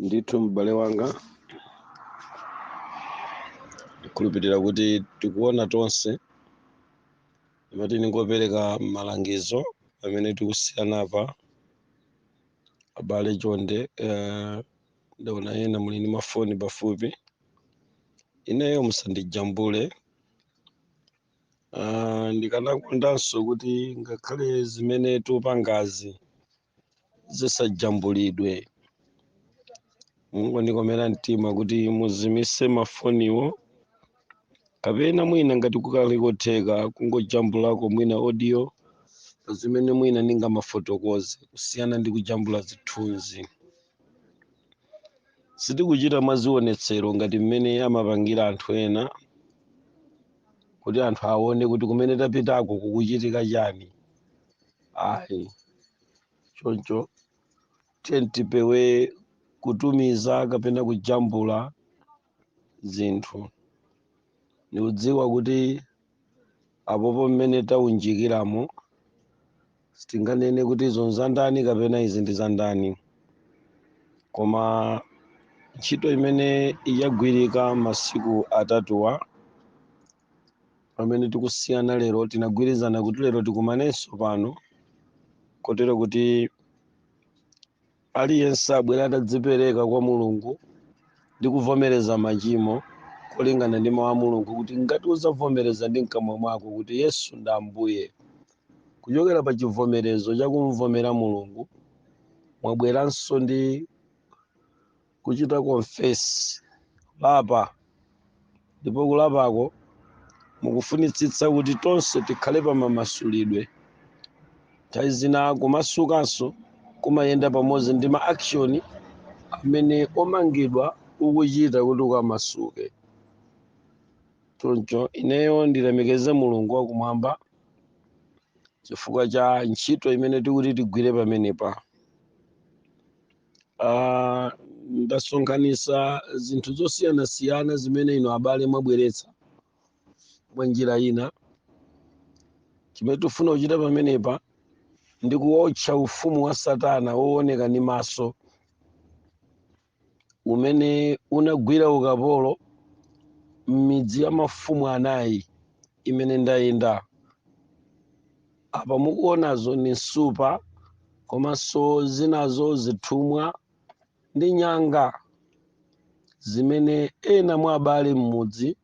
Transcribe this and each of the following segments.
ndithu m'bale wanga ndikhulupirira kuti tikuona tonse ndimati ndingopereka malangizo pamene tikusiyana apa abale chonde eh, ndaona ena muli ndi mafoni pafupi ineyo musandijambule Ah, ndikanakondanso kuti ngakhale zimene tikupangazi zisajambulidwe mungondikomera mtima kuti muzimise mafoniwo kapena mwina ngati kukhale kotheka kungojambulako mwina audio pa zimene mwina ndingamafotokoze kusiyana ndi kujambula zithunzi sitikuchita mwazionetsero ngati mmene amapangira anthu ena kuti anthu aone kuti kumene tapitako kukuchitika chani ayi choncho tiyeni tipewe kutumiza kapena kujambula zinthu ndikudziwa kuti apopo mmene taunjikiramo sitinganene kuti izo nzandani kapena izi ndi zandani koma ntchito imene yagwirika masiku atatuwa pamene tikusiyana lero tinagwirizana kuti lero tikumanenso pano kotero kuti aliyense abwera atadzipereka kwa mulungu ndi kuvomereza machimo kulingana ndi mawu a mulungu kuti ngati uzavomereza ndi mkamwa mwako kuti yesu ndi ambuye kuchokera pa chivomerezo chakumvomera mulungu mwabweranso ndi kuchita confess kulapa ndipo kulapako mukufunitsitsa kuti tonse tikhale pa mamasulidwe nthawi zina kumasukanso kumayenda pamodzi ndi ma action amene omangidwa ukuchita kuti ukamasuke choncho ineyo nditamekeze mulungu wakumwamba chifukwa cha ntchito imene tikuti tigwire pamenepa Ah, ndasonkhanitsa zinthu zosiyanasiyana zimene inu abale mwabweretsa mwa njira ina chimene tifuna kuchita pamenepa ndi kuwotcha ufumu wa satana wooneka ndi maso umene unagwira ukapolo m'midzi ya mafumu anayi imene ndayenda apa mukuonazo ni nsupa komanso zinazo zithumwa ndi nyanga zimene ena mwa abale m'mudzi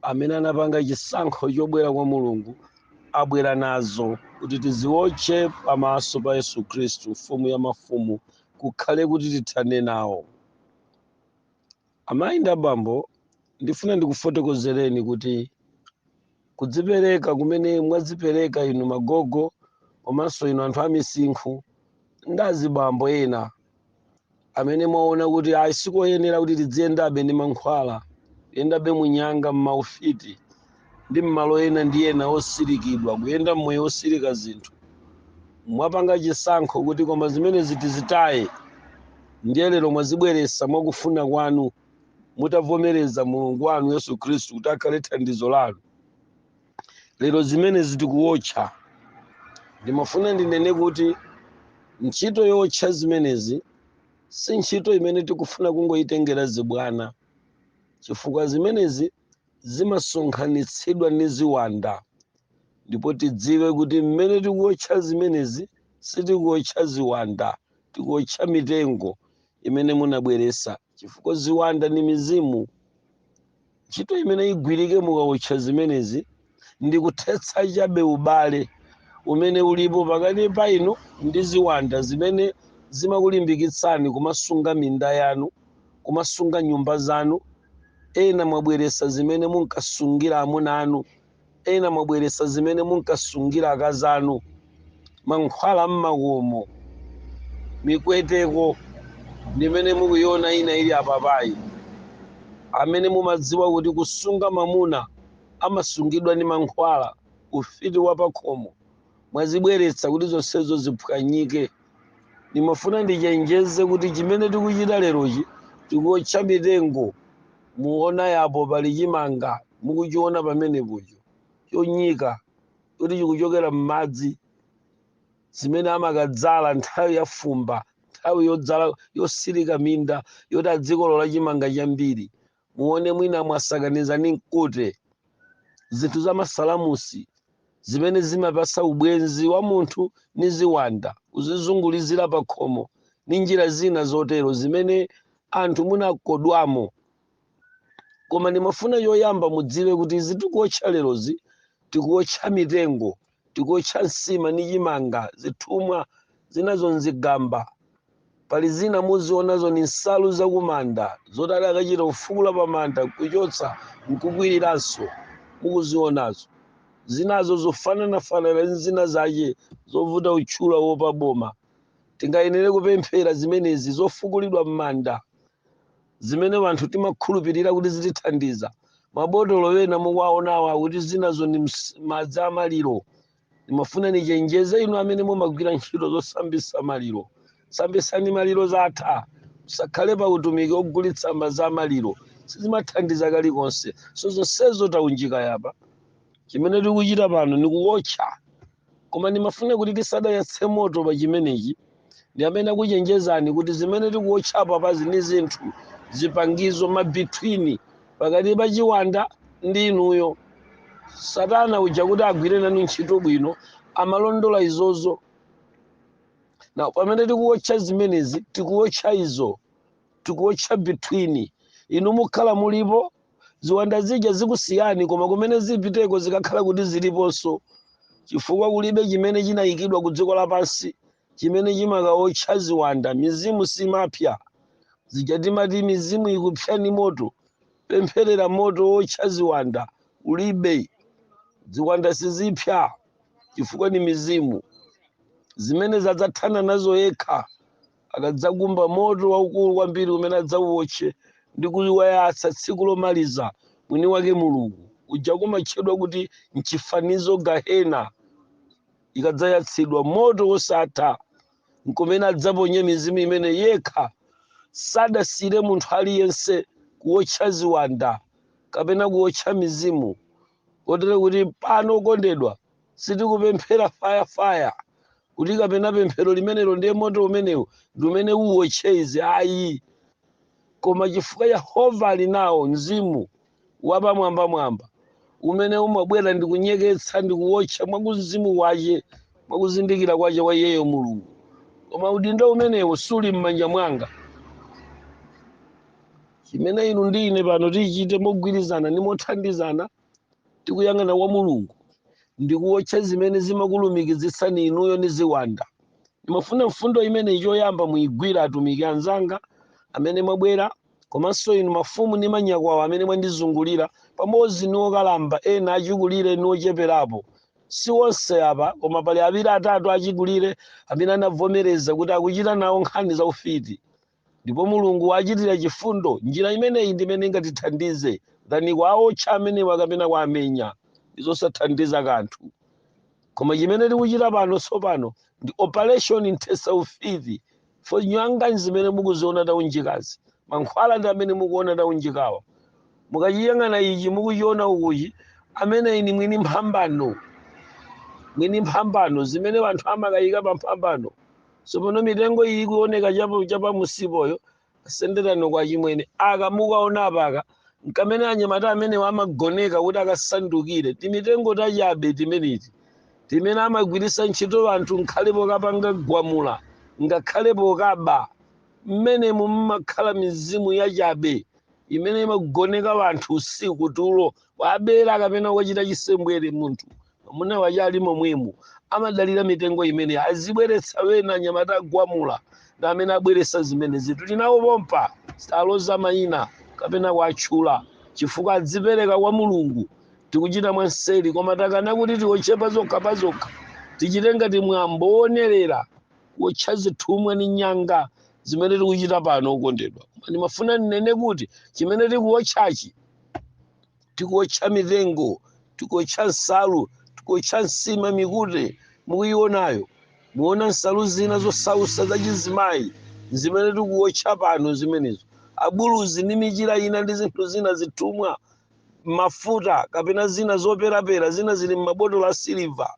amene anapanga chisankho chobwera kwa mulungu abwera nazo kuti tiziwotche pamaso pa yesu khristu mfumu ya mafumu kukhale kuti tithane nawo Amayi ndi abambo, ndifuna ndikufotokozereni kuti kudzipereka kumene mwadzipereka inu magogo komanso inu anthu amisinkhu ndi azibambo ena amene mwaona kuti ayi sikoyenera kuti tidziyendabe ndi mankhwala, kuyendabe munyanga, m'maufiti, ndi m'malo ena ndi ena osirikidwa kuyenda mmoyo osirika zinthu mwapanga chisankho kuti koma zimenezi tizitaye ndiye lero mwazibweresa mwakufuna kwanu mutavomereza mulungu wanu yesu khristu kuti akhale thandizo lanu lero zimenezi tikuwotcha ndimafuna ndinene kuti ntchito yotcha zimenezi si ntchito imene tikufuna kungoyitengera zibwana chifukwa zimenezi zimasonkhanitsidwa ndi ziwanda ndipo tidziwe kuti mmene tikuotcha zimenezi sitikuotcha ziwanda tikuotcha mitengo imene munabweresa chifukwa ziwanda ndi mizimu ntchito imene igwirike mukaotcha zimenezi ndi kuthetsa chabe ubale umene ulipo pakati pa inu ndi ziwanda zimene zimakulimbikitsani kumasunga minda yanu, kumasunga nyumba zanu. Ena mwabweretsa zimene munkasungira amuna anu, ena mwabweretsa zimene munkasungira akazi anu, mankhwala a mmakomo, mikweteko ndimene mukuiona ina ili apapayi, amene mumadziwa kuti kusunga mamuna amasungidwa ndi mankhwala, ufiti wa pakhomo, mwazibweretsa kuti zonsezo ziphwanyike. Ndimafuna ndichenjeze kuti chimene tikuchita lerochi tikuotcha mitengo. Muona yapo pali chimanga mukuchiona pamenepocho chonyika kuti chikuchokera m'madzi zimene amakadzala nthawi ya fumba, nthawi yodzala yosirika minda yoti adzikolola chimanga chambiri. muone mwina mwasakaniza ndi mkute zinthu za masalamusi zimene zimapasa ubwenzi wa munthu ni ziwanda kuzizungulizira pa khomo ni njira zina zotero zimene anthu munakodwamo koma ndimafuna choyamba mudziwe kuti izi tikuotcha lerozi tikuotcha mitengo tikuotcha nsima ndi chimanga zithumwa zinazo nzigamba pali zina muzionazo ni nsalu zakumanda zoti adakachita kufukula pamanda kuchotsa nkukwiriranso mukuzionazo zinazo zofananafanana ndi zina zace zovuta utchula kuwopa boma tingayenere kupemphera zimenezi zofukulidwa m'manda zimene anthu timakhulupirira kuti zitithandiza mabotolo ena mukuwaonawa kuti zinazo ndi madzi a maliro ndimafuna nichenjeze inu amene mumagwira ntchito zosambisa maliro sambisani maliro zatha musakhale pa utumiki ogulitsa madzi a maliro sizimathandiza kalikonse so zonsezo taunjika yapa chimene tikuchita pano nikuwotcha koma ndimafuna kuti tisadayatse moto pa chimenechi ndiyambe ndakuchenjezani kuti zimene tikuwotcha apazi ndi zinthu zipangizo mabitwini pakati pa chiwanda ndi inuyo satana uja kuti agwire nanu ntchito bwino amalondola izozo na pamene tikuwotcha zimenezi tikuwotcha izo tikuwotcha between inu mukhala mulipo ziwanda zija zikusiyani koma kumene zipiteko zikakhala kuti ziliponso chifukwa kulibe chimene chinayikidwa ku dziko lapansi chimene chimakaotcha ziwanda mizimu simapsya zija timati mizimu ikupsya ndi moto pempherera moto wotcha ziwanda ulibe ziwanda sizipsa chifukwa ni mizimu zimene adzathana nazo yekha akadzakumba moto waukulu kwambiri umene adzauwotche ndi kuwayatsa tsiku lomaliza, mwini wake Mulungu, kuja kumatchedwa kuti m'chifanizo Gahena, ukadzayatsidwa moto wosatha, nkumene adzaponye mizimu imene yekha sadasiyire munthu aliyense kuwotcha ziwanda kapena kuwotcha mizimu kotero kuti pano okondedwa sitikupemphera faya faya kuti kapena pemphero limenelo ndiye moto umenewo ndi umene uwotche izi ayi koma chifukwa yehova ali nawo mzimu wapamwambamwamba umene umabwera ndi kunyeketsa ndi kuwotcha mwa kumzimu kwace mwa kuzindikira kwace kwa iyeyo mulungu koma udindo umenewo suli m'manja mwanga chimene inu ndi ine pano titachite mogwirizana ndi mothandizana tikuyang'ana kwa mulungu ndi kuwotcha zimene zimakulumikizitsani inuyo ndi ziwanda ndimafuna mfundo imeneyi choyamba muyigwire atumiki anzanga amene mwabwera komanso inu mafumu ndi manyakwawa amene mwandizungulira pamodzi ndi okalamba ena achikulire ndi ocheperapo si onse apa koma pali awiri atatu achikulire amene anavomereza kuti akuchita nawo nkhani za ufiti Ndipo Mulungu wachitira chifundo. Njira imeneyi ndi imene ingatithandize zani kuwaotcha amenewa kapena kuwamenya. Ndizosathandiza kanthu. Koma chimene tikuchita pano tsopano ndi operation kuthetsa ufiti fo nyanga ndi zimene mukuziona taunjikazi. Mankhwala ndi amene mukuona taunjikawa. Mukachiyang'ana ichi mukuchiona ukochi, ameneyi ni mwini mphambano. Mwini mphambano, zimene anthu amakayika pa mphambano. tsopano mitengo iyi ikuoneka chapamusipoyo asendereko achimwene aka mukaona apaka nkamene anyamata amenewa amagoneka kuti akasandukire timitengo tachabe timeneti timene amagwiritsa ntchito anthu ngakhale pokapanga gwamula ngakhale pokaba mmenemo mumakhala mizimu yachabe imene imagoneka wanthu usiku tulo wabera kapena wachita chisembwere munthu amuna wache ali momwemo amadalira mitengo imene azibweretsa wena anyamata agwamula ndi amenenso abweretsa zimenezitu tinawo pompa osaloza mayina kapena kuwatchula chifukwa adzipereka kwa mulungu tikuchita mwanseri koma takana kuti tiwotche pazokha pazokha tichite ngati mwambo wonerera kuwotcha zithumwa ndi nyanga zimene tikuchita pano okondedwa koma ndimafuna ndinene kuti chimene tikuwotchachi tikuotcha mitengo tikuotcha nsalu tikuotcha nsima mikute mukuyionayo muona nsalu zina zosausa zachizimayi zimene tikuotcha pano zimenezo abuluzi ndi michira ina ndi zinthu zina zithumwa mafuta kapena zina zoperapera zina zili m'mabotolo a siliva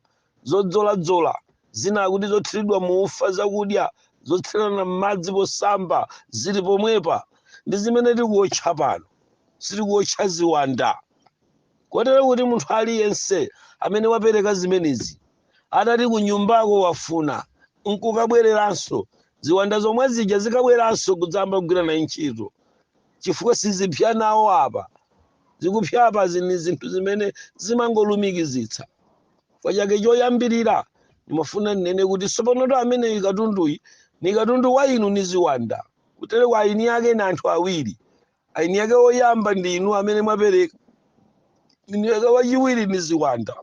zodzoladzola, zina akuti zothiridwa mu ufa, zakudya zotsirana m'madzi posamba zili pomwepa. Ndi zimene tikuwotcha pano. Sitikuwotcha ziwanda. Kotero kuti munthu aliyense amene wapereka zimenezi, atati kunyumbako wafuna n'kukabwereranso, ziwanda zomwe zija zikabweranso kudzayamba kugwira naye ntchito, chifukwa sizipsa nawo apa. Zikupsa apazi ndi zinthu zimene zimangolumikizitsa. chifukwa chake choyambirira ndimafuna ndinene kuti tsopanotu ameneyi katunduyi ni katundu wa inu ni ziwanda kutereku eni ake ni anthu awiri eni ake woyamba ndi inu amene mwapereka eni ake wachiwiri ni ziwanda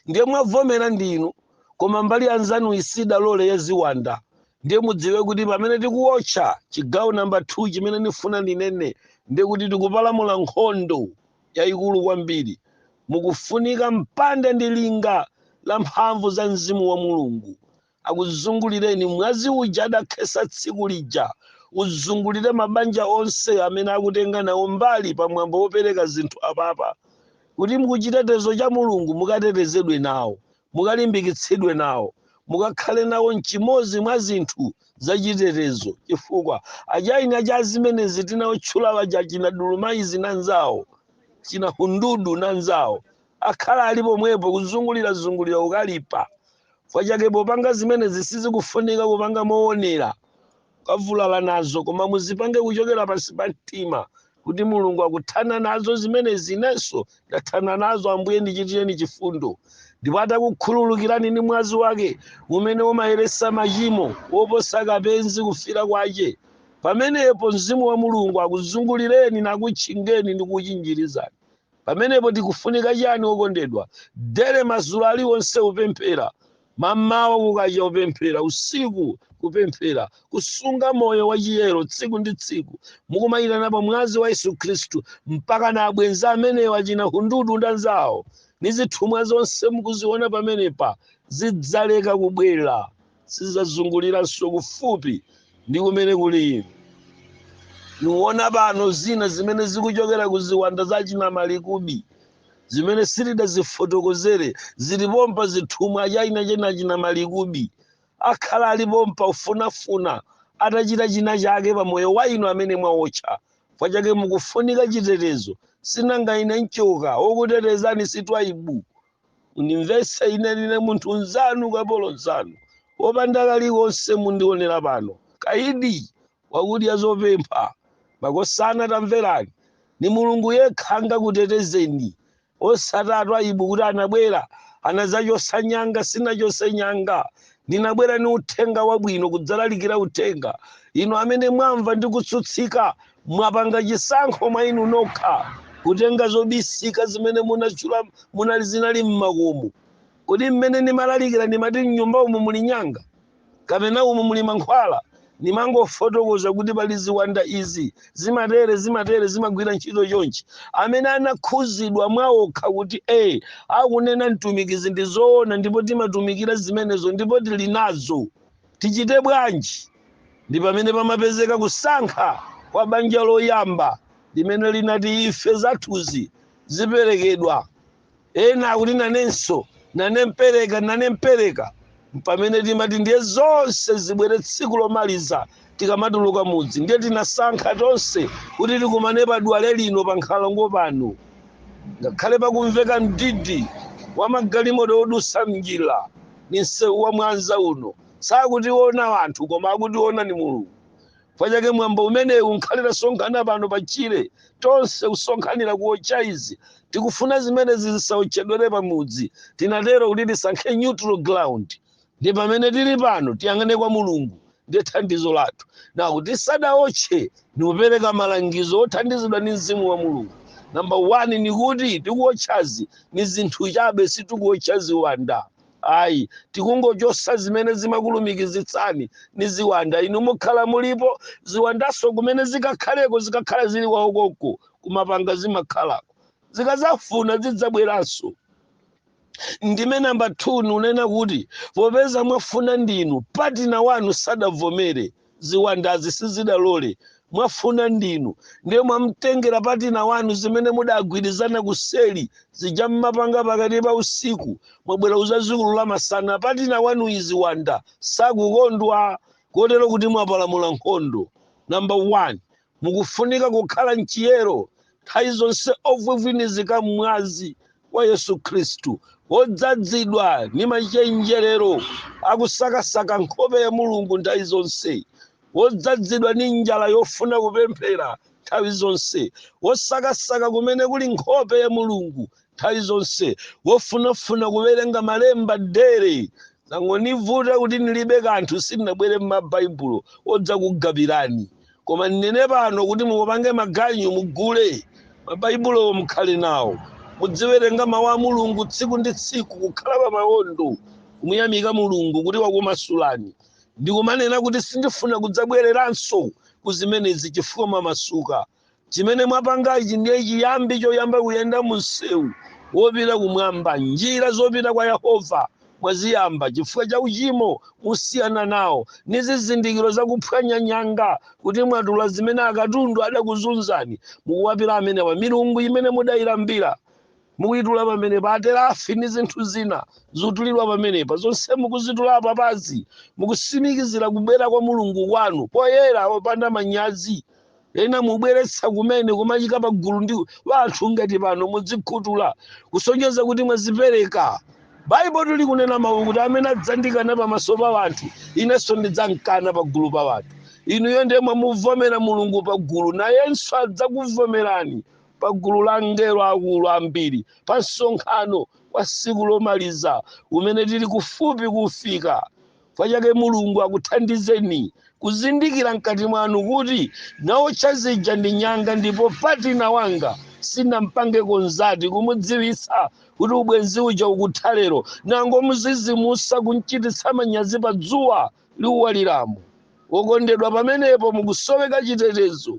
ndiye mwavomera ndi inu koma mbali yanzanu siidalole ya ziwanda ndiye mudziwe kuti pamene tikuwotcha chigawo namba 2 chimene ndifuna ndinene ndiye kuti tikupalamula nkhondo yayikulu kwambiri. Mukufunika mpanda ndi linga la mphamvu za Mzimu wa Mulungu. Akuzungulireni mwazi uja adakhesa tsiku lija. Uzungulire mabanja onse amene akutenga nawo mbali pa mwambo wopereka zinthu apapa. Kuti muchitetezo cha Mulungu mukatetezedwe nawo. Mukalimbikitsidwe nawo. Mukakhale nawo n'chimodzi mwa zinthu zachitetezo chifukwa achina cha zimenezi tinaotchula aja achina Dulumaizi nanzawo, achina Hundudu nanzawo akhala ali pomwepo kuzungulirazungulira ukalipa. Kwa chake popanga zimenezi sizikufunika kupanga mowonera kavulala nazo koma muzipange kuchokera pansi pa mtima kuti mulungu akuthana nazo zimenezi inenso ndathana nazo ambuye ndichitireni chifundo ndipo atakukhululukirani ndi mwazi wake umene umayeresa machimo woposa kapezi kufira kwache pamenepo mzimu wa mulungu akuzungulireni nakutchingeni ndi kuchinjirizani pamenepo tikufunika chani wokondedwa dere mazulu aliwonse upemphera Mammawa kukacha kupemphera, usiku kupemphera, kusunga moyo wa chiyero tsiku ndi tsiku, mukumayitana pa mwazi wa Yesu Khristu mpaka na abwenzi amenewo achina hundudu ndi anzawo ni zithumwa zonse mukuziona pamenepa zidzaleka kubwera, sizidzazunguliranso kufupi ndi kumene kuli inu. Muwona pano zina zimene zikuchokera ku ziwanda za achina Malikubi, zimene sitidazifotokozere zili pompa zithumwa achina chena china malikubi akhala ali pompa kufunafuna atachita china chake pa moyo wa inu amene mwaotcha kwa chake mukufunika chitetezo sinanga ine nchoka wokutetezani si twaibu mundimvese ine ndine munthu nzanu kapolo nzanu wopanda kalikonse mundionera pano kaidi wakudya zopempha. Makosana tamverani ni mulungu yekha angakutetezeni osati atwaibu kuti anabwera anadzachosa nyanga sinachose nyanga ndinabwera ni uthenga wabwino kudzalalikira uthenga inu amene mwamva ndi kutsutsika mwapanga chisankho mwa inu nokha kutenga zobisika zimene munachula munali zinali mmakomo kodi mmene nimalalikira nimati mnyumba umu muli nyanga kapena umu muli mankhwala nimangofotokoza kuti pali ziwanda izi zimatere zimatere zimagwira ntchito chonchi amene anakhuzidwa mwa okha kuti e akunena mtumikizi ndi zoona ndipo timatumikira zimenezo ndipo tili nazo tichite bwanji ndi pamene pamapezeka kusankha kwa banja loyamba limene linati ife zathuzi ziperekedwa ena akuti nanenso nane mpereka nane mpereka mpamene timati ndiye zonse zibwere tsiku lomaliza tikamatuluka mudzi ndiye tinasankha tonse kuti tikumane pa dwale lino pa nkhalango pano ngakhale pakumveka mdidi wa magalimoto odusa mnjira ni msewu wa mwanza uno sakutiona anthu koma akutiona ni mulungu chifukwa chake mwambo umenewu nkhala tasonkhana pano pa tchire tonse kusonkhanira kuotcha izi tikufuna zimenezi zisaotchedwere pamudzi tinatero kuti tisankhe neutral ground ndi pamene tili pano tiyang'ane kwa mulungu ndi thandizo lathu nako tisadaotche nikupereka malangizo othandizidwa ndi mzimu wa mulungu namba 1 ni kuti tikuotchazi ni zinthu chabe sitikuotcha ziwanda ayi tikungochosa zimene zimakulumikizitsani ni ziwanda inu mukhala mulipo ziwandaso kumene zikakhaleko zikakhala zili kwaokoko kumapanga zimakhalako zikazafuna zidzabweranso ndiye namba 2 nunena kuti popeza mwafuna ndinu patina wanu sadavomere ziwandazi sizidalole mwafuna ndinu ndiye mwamtengera patina wanu zimene mudagwirizana kuseri zija mmapanga pakati pa usiku mwabwera uzazikulula masana patina wanu i ziwanda sakukondwa kotero kuti mwapalamula nkhondo namba 1 Mukufunika kukhala m'chiyero, nthawi zonse ovivinizika m'mwazi wa Yesu Kristu, odzazidwa ni machenjerero akusakasaka nkhope ya Mulungu nthawi zonse, odzazidwa ni njala yofuna kupemphera nthawi zonse, osakasaka kumene kuli nkhope ya Mulungu nthawi zonse wofunafuna kuwerenga malemba dere zangonivuta kuti nilibe kanthu sindinabwere n'mabaibulo odzakugabirani koma ndinene pano kuti mupange maganyu mugule mabaibulowo mukhale nawo mudziwerenga mawu a mulungu tsiku ndi tsiku kukhala pa mawondo kumuyamika mulungu kuti wakumasulani ndikumanena kuti sindifuna kudzabwereranso ku zimenezi chifukwa mwamasuka chimene mwapangachi ndiye chiyambi choyamba kuyenda mumsewu wopita kumwamba njira zopita kwa yehova mwaziyamba chifukwa cha uchimo musiyana nawo ni zizindikiro zakuphwanya nyanga kuti mwatula zimene akatundu adakuzunzani mukuwapila amenewa milungu imene mudayilambira mukuyitula pamenepa aterafi ndi zinthu zina zotulidwa pamenepa zonse mukuzitula papazi mukusimikizira kubwera kwa mulungu wanu poyera opanda manyazi ena mubweretsa kumene kumachika pa gulu ndi wanthu ngati pano mudzikhutula kusonyeza kuti mwazipereka baibulo likunena mawu kuti amene adzandikana pamaso pa wanthu inenso ndidzamkana pa gulu pa wanthu inuyo ndiye mwamuvomera mulungu pa gulu nayenso adzakuvomerani pa gulu la angelo akulu ambiri pa msonkhano wa tsiku lomaliza umene tili kufupi kuwufika kwa chake mulungu akuthandizeni kuzindikira mkati mwanu kuti naotcha zija ndi nyanga ndipo patina wanga sinampange konzati kumudziwitsa kuti ubwenzi uja ukutha lero nangomuzizimusa kumchititsa manyazi pa dzuwa liuwaliramo wokondedwa pamenepo mukusoweka chitetezo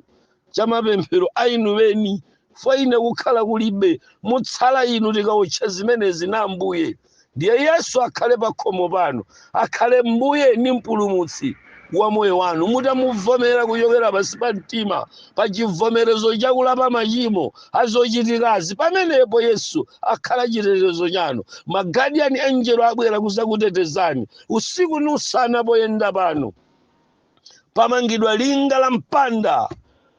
cha mapemphero a inu eni fwa ine kukhala kulibe mutsala inu tikawotcha zimenezi na ambuye ndiye yesu akhale pakhomo panu akhale mbuye ni mpulumutsi wa moyo wanu mutamuvomera kuchokera pansi pa mtima pa chivomerezo chakulapa machimo a zochitikazi pamenepo yesu akhala chitetezo chanu magadiyani enjelo abwera kuzakutetezani usiku ni usana poyenda pano pamangidwa linga la mpanda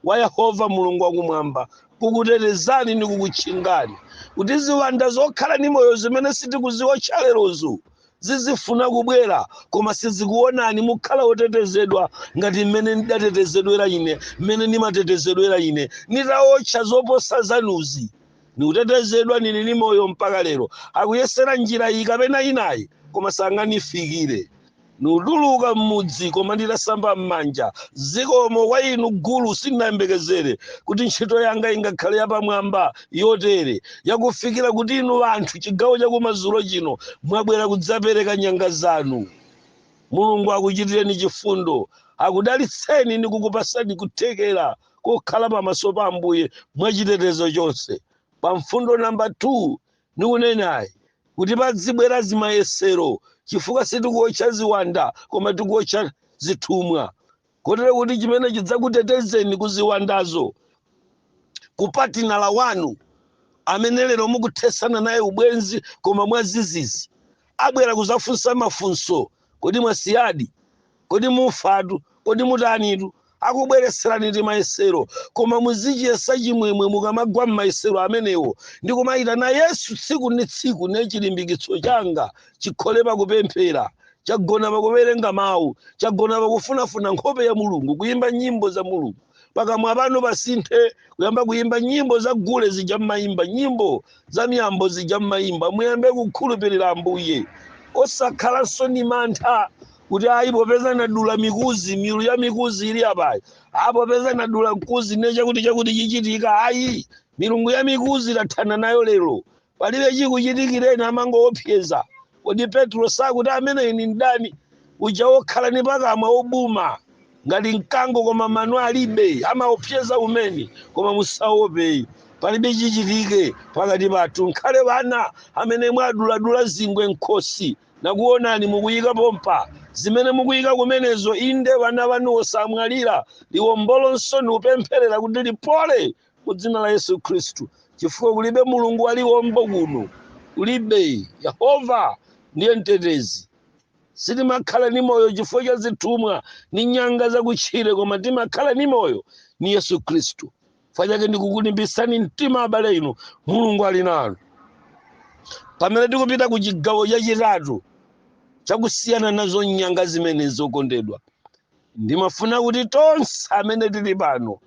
wa yehova mulungu wakumwamba kukutetezani ni kukutchingani kuti ziwanda zokhala ni moyo zimene sitikuziwotcha lerozo zizifuna kubwera koma sizikuonani mukhala otetezedwa ngati mmene ndidatetezedwera ine mmene ndimatetezedwera ine nitawotcha zoposa zanuzi nikutetezedwa nili ni moyo mpaka lero akuyesera njira iyi kapena inayi koma sanganifikire ndikutuluka m'mudzi koma nditasamba m'manja zikomo kwa inu gulu sindinayembekezere kuti ntchito yanga ingakhale yapamwamba yotere yakufikira kuti inu anthu chigawo chakumadzulo chino mwabwera kudzapereka nyanga zanu mulungu akuchitireni chifundo akudalitseni ndi kukupasani kuthekera kokhala pamaso pa ambuye mwachitetezo chonse pa mfundo namba 2 Nikunenayi kuti padzibwera zimayesero chifukwa sitikuotcha ziwanda koma tikuotcha zithumwa kotero kuti chimene chidzakutetezeni ku ziwandazo ku patinala wanu amene lero mukuthesana naye ubwenzi koma mwazizizi abwera kuzafunsa mafunso kodi mwasiyadi Kodi mufatu? Kodi mutanitu? Akubweretserani timayesero, koma muzichiyesa chimwemwe mukamagwa m'mayesero amenewo, ndi kumaitana Yesu tsiku ndi tsiku, ne chilimbikitso changa chikhale pa kupemphera, chagona pa kuwerenga Mawu, chagona pa kufunafuna nkhope ya Mulungu, kuyimba nyimbo za Mulungu. Pakamwa panu pasinthe kuyamba kuyimba nyimbo za gule zija m'mayimba, nyimbo za miyambo zija m'mayimba. Muyambe kukhulupirira Ambuye, osakhalanso ni mantha kuti ayi popeza nadula mikuzi milu ya mikuzi ili apayi ayi popeza nadula mkuzi ne chakuti chakuti chichitika ayi milungu ya mikuzi tathana nayo lero palibe chikuchitikireni amangoopseza kodi petro sakuti ameneyi ni mdani uja wokhala ni pakamwa obuma ngati mkango koma mano alibe amaopseza umene koma musaope palibe chichitike pakati pathu nkhale bana amene mwaduladula zingwe mkhosi Nakuonani mukuyika pompa, zimene mukuyika kumenezo, inde vana vanu osamwalira, liwombolonso nikupempherera kuti lipole mu dzina la Yesu Khristu, chifukwa kulibe Mulungu wa liwombo kuno, kulibe, Yehova ndiye mtetezi. Sitimakhala ni moyo chifukwa cha zithumwa ni nyanga zakutchire koma timakhala ni moyo ni Yesu Khristu. chifukwa chake ndikukulimbitsani mtima abale inu mulungu ali nanu pamene tikupita ku chigawo chachitatu chakusiyana nazo nyanga zimene zokondedwa ndimafuna kuti tonse amene tili pano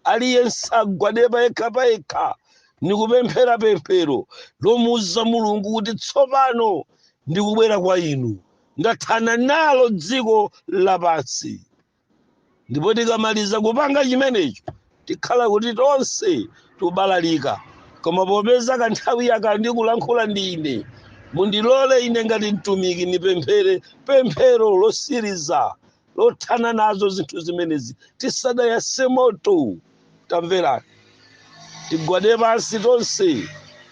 aliyense agwade payekha payekha ndikupemphera pemphero lomuuza mulungu kuti tsopano ndikubwera kwa inu ndathana nalo dziko lapansi ndipo tikamaliza kupanga chimenecho tikhala kuti tonse tubalalika koma popeza kanthawi yaka ndikulankhula ndi ine mundilole ine ngati mtumiki ndipemphere pemphero losiriza lothana nazo zinthu zimenezi tisadayase moto tamverani tigwade pansi tonse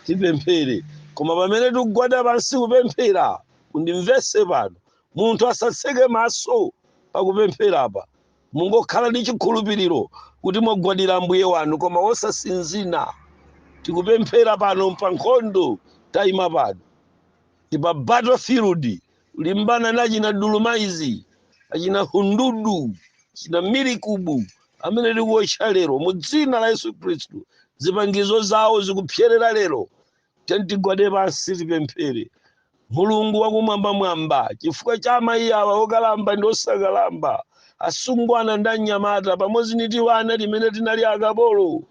tipemphere koma pamene tikugwada pansi kupemphera mundimvese pano Munthu asatseke maso pakupempherapa. Mungokhala ndi chikhulupiriro kuti mwagwadira Ambuye wanu koma wosasinzina. Tikupemphera pano mpankhondo taima pano. Ndi pa battle field kulimbana na achina Dulumaizi, achina Hundudu, achina Milikubu amene tikuotcha lero mu dzina la Yesu Khristu. Zipangizo zawo zikupsyerera lero. tiyeni tigwade pansi tipemphere mulungu wakumwambamwamba chifukwa cha amayi awa okalamba ndi osakalamba asungwana ndi anyamata pamodzi ndi tiwana timene tinali akapolo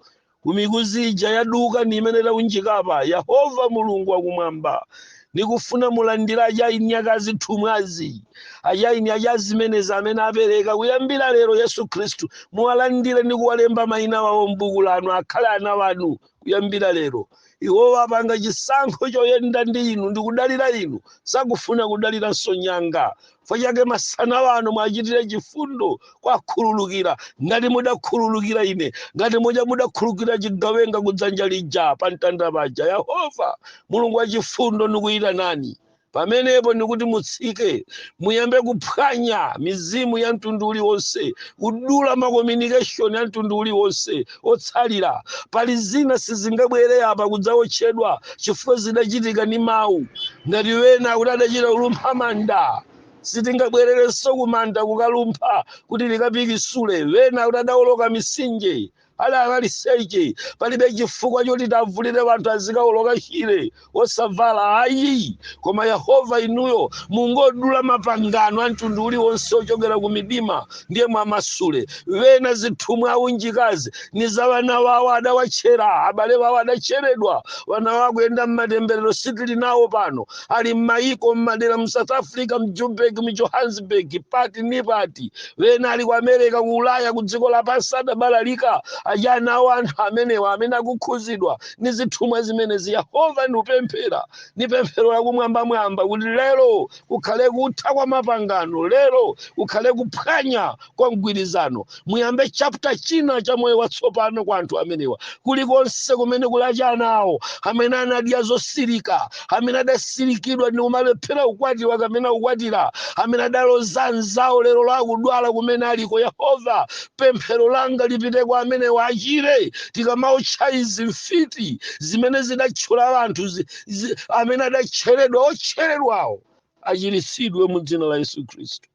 kumikuzi ija yaduka ni imene taunjikapa yehova mulungu wakumwamba nikufuna muwalandire achaini ake azithumwazi achaini ake azimenezi amene apereka kuyambira lero yesu khristu muwalandire ndi kuwalemba mayina wawo m'buku lanu akhale ana wanu kuyambira lero iwo apanga chisankho choyenda ndi inu ndi kudalira inu sakufuna kudaliranso nyanga fukwa chake masana wano mwachitire chifundo kwakhululukira ngati mudakhululukira ine ngati muja mudakhululukira chigawenga kudzanja lija pa mtanda paja yehova mulungu wachifundo nikuyitanani pamenepo ndikuti mutsike muyambe kuphwanya mizimu ya mtundu uliwonse kudula makomunikeshoni a mtundu uliwonse otsalira pali zina sizingabwere apa kudzawotchedwa chifukwa zidachitika ndi mawu ngati wena kuti adachita kulumpha manda sitingabwererenso kumanda kukalumpha kuti likapikisule wena kuti adawoloka mitsinje Ali maliseche palibe chifukwa choti tiwavulire wanthu azikauloka chire osavala ayi koma yehova inuyo mungodula mapangano a mtundu uliwonse ochokera ku midima ndiye mwamasule wena zithumwa aunjikazi ni za wana wawo adawatchera abale wawo adatcheredwa wana wawo akuyenda mmatemberero sitili nawo pano ali mmayiko mmadera mu south africa mjoburg mjohannesburg pati ni pati wena ali ku america ku ulaya ku dziko lapansi adabalalika achina awo anthu amenewa amene akukhuzidwa ndi zithumwa zimenezi yehova ndikupemphera ndi pemphero lakumwambamwamba kuti lero kukhale kutha kwa mapangano lero kukhale kuphwanya kwa mgwirizano muyambe chapter china cha moyo watsopano kwa anthu amenewa kulikonse kumene kuli achina awo amene anadya zotsirika amene adatsirikidwa ndi kumalephera kukwatiwa kapena kukwatira amene adaloza anzawo lero akudwala kumene aliko yehova pemphero langa lipite kwa amenewa achire tikamaotcha izi mfiti zimene zidatchera anthu zi- zi- amene adatcheredwa otcheredwawo achiritsidwe mu dzina la yesu khristu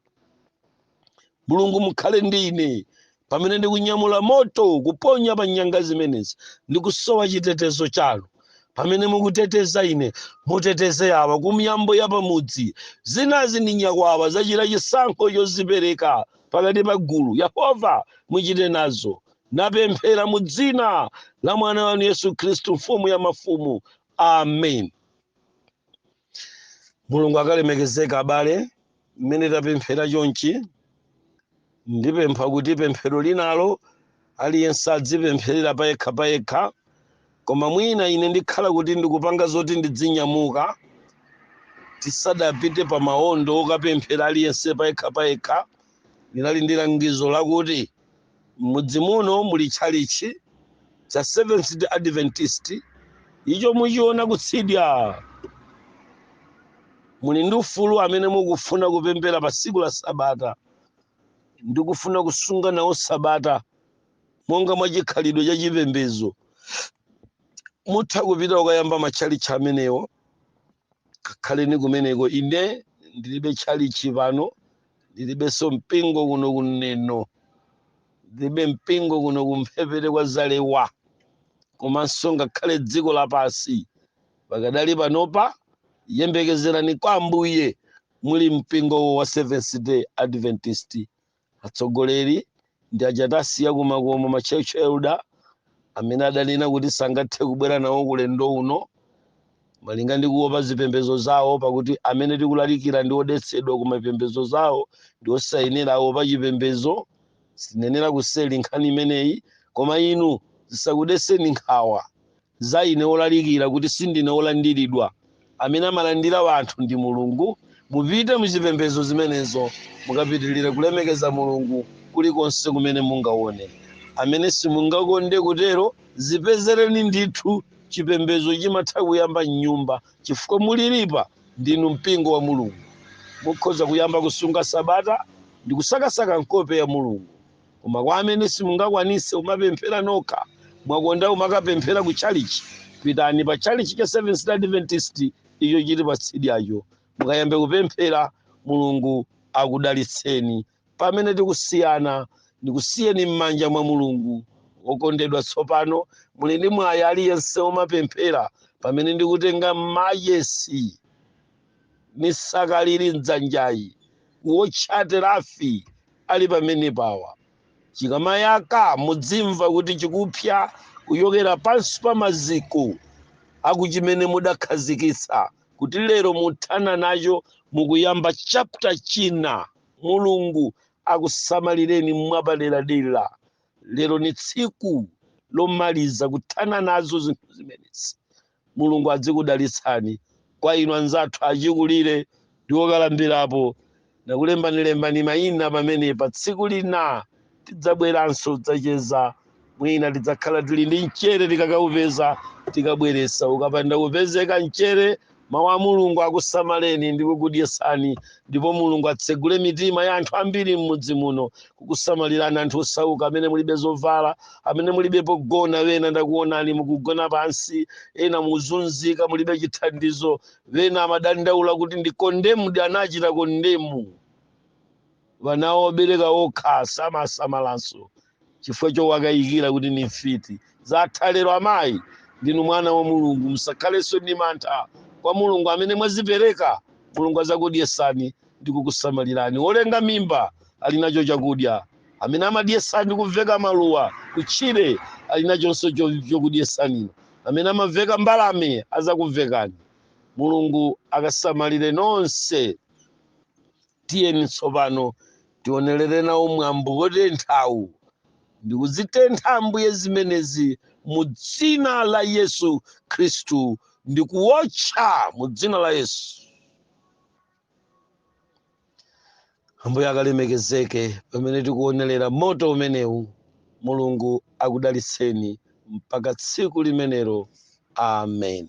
mulungu mukhale ndi ine pamene ndikunyamula moto kuponya pa nyanga zimenezi ndikusowa chitetezo chanu pamene mukuteteza ine muteteze awa ku miyambo ya pamudzi zinazi ndi nyakwawa zachita chisankho chozipereka pakati pa gulu yehova muchite nazo napemphera mu dzina la mwana wanu yesu khristu mfumu ya mafumu amen mulungu akalemekezeke abale mmene tapemphera chonchi ndipempha kuti pemphero linalo aliyense adzipempherera payekha payekha koma mwina ine ndikhala kuti ndikupanga zoti ndidzinyamuka tisadapite pa maondo okapemphera aliyense payekha payekha Ndinali ndi langizo lakuti, M'mudzi muno muli tchalitchi cha Seventh-day Adventist. Icho muchiona kutsidya. Muli ndi ufulu amene mukufuna kupemphera pa tsiku la Sabata ndi kufuna kusunga nawo Sabata monga mwa chikhalidwe cha chipembedzo. Mutha kupita ukayamba matchalitchi amenewo. Kakhaleni kumeneko. Ine ndilibe tchalitchi pano. ndilibenso mpingo kuno ku neno ndilibe mpingo kuno kumphepete kwa zalewa komanso ngakhale dziko lapansi pakadali panopa yembekezerani kwa ambuye muli mpingo wa seventh day adventist atsogoleri ndi aja tasiya kumakomo ma church elder amene adanena kuti sangathe kubwera nawo ku ulendo uno malinga ndi kuopa zipembedzo zawo pakuti amene tikulalikira ndi odetsedwa ku mapembedzo zawo ndi osayenera aopa chipembedzo sinenera kuseli nkhani imeneyi koma inu zisakudeseni nkhawa za ine wolalikira kuti sindine wolandiridwa. Amene amalandira wanthu ndi Mulungu. Mupite muchipembezo zimenezo mukapitilire kulemekeza Mulungu kuli konse kumene mungawone. Amene simungakonde kutero zipezereni ndithu chipembezo chimatha kuyamba mnyumba chifukwa mulilipa ndinu mpingo wa Mulungu. Mukhoza kuyamba kusunga sabata ndikusakasaka nkope ya Mulungu. Koma kwa amene simungakwanise kumapemphera nokha, mwakonda kumakapemphera ku chalichi, pitani pa chalichi cha Seventh Day Adventist icho chili pa tsidyacho, mukayambe kupemphera. Mulungu akudalitseni. Pamene tikusiyana, ndikusiyeni m'manja mwa Mulungu. Okondedwa, tsopano muli ndi mwayi aliyense womapemphera pamene ndikutenga machesi. ni saka lili mdzanjayi kuotcha terafi ali pamenepawa chikamayaka mudzimva kuti chikupsa kuchokera pansi pa maziko akuchimene mudakhazikitsa kuti lero muthana nacho mukuyamba chapter china mulungu akusamalireni mwapaderadera lero ni tsiku lomaliza kuthana nazo zinthu zimenezi Mulungu adzikudalitsani. Kwa inu anzathu achikulire ndi okalambirapo, ndakulembani lembani maina pamenepa. Tsiku lina tidzabweranso kudzacheza. Mwina tidzakhala tili ndi mchere tikakaupeza, tikabweretsa. Ukapanda kupezeka mchere, Mau a Mulungu akusamaleni ndi kukudyetsani ndipo mulungu atsegule mitima ya anthu ambiri m'mudzi muno kukusamalirani anthu osauka amene mulibe zovala amene mulibe pogona wena ndakuonani mukugona pansi ena muzunzika mulibe chithandizo wena amadandaula kuti ndi kondemu anandichita kondemu wana obereka okha samasamalanso chifukwa chowakayikira kuti ndi mfiti zatha lero amayi ndinu mwana wa mulungu musakhalenso ndi mantha kwa mulungu amene mwazipereka mulungu azakudyesani ndi kukusamalirani wolenga mimba ali nacho chakudya amene amadyesa ndi kuveka maluwa kutchire ali nachonso chokudyesani inu amene amaveka mbalame azakuvekani mulungu akasamalire nonse Tiyeni tsopano tionelere nawo mwambo wotenthawu ndi kuzitentha, Ambuye, zimenezi mu Dzina la Yesu Khristu, ndi kuwotcha mu Dzina la Yesu. Ambuye akalemekezeke pamene tikuonelera moto umenewu. Mulungu akudalitseni mpaka tsiku limenelo. Amen.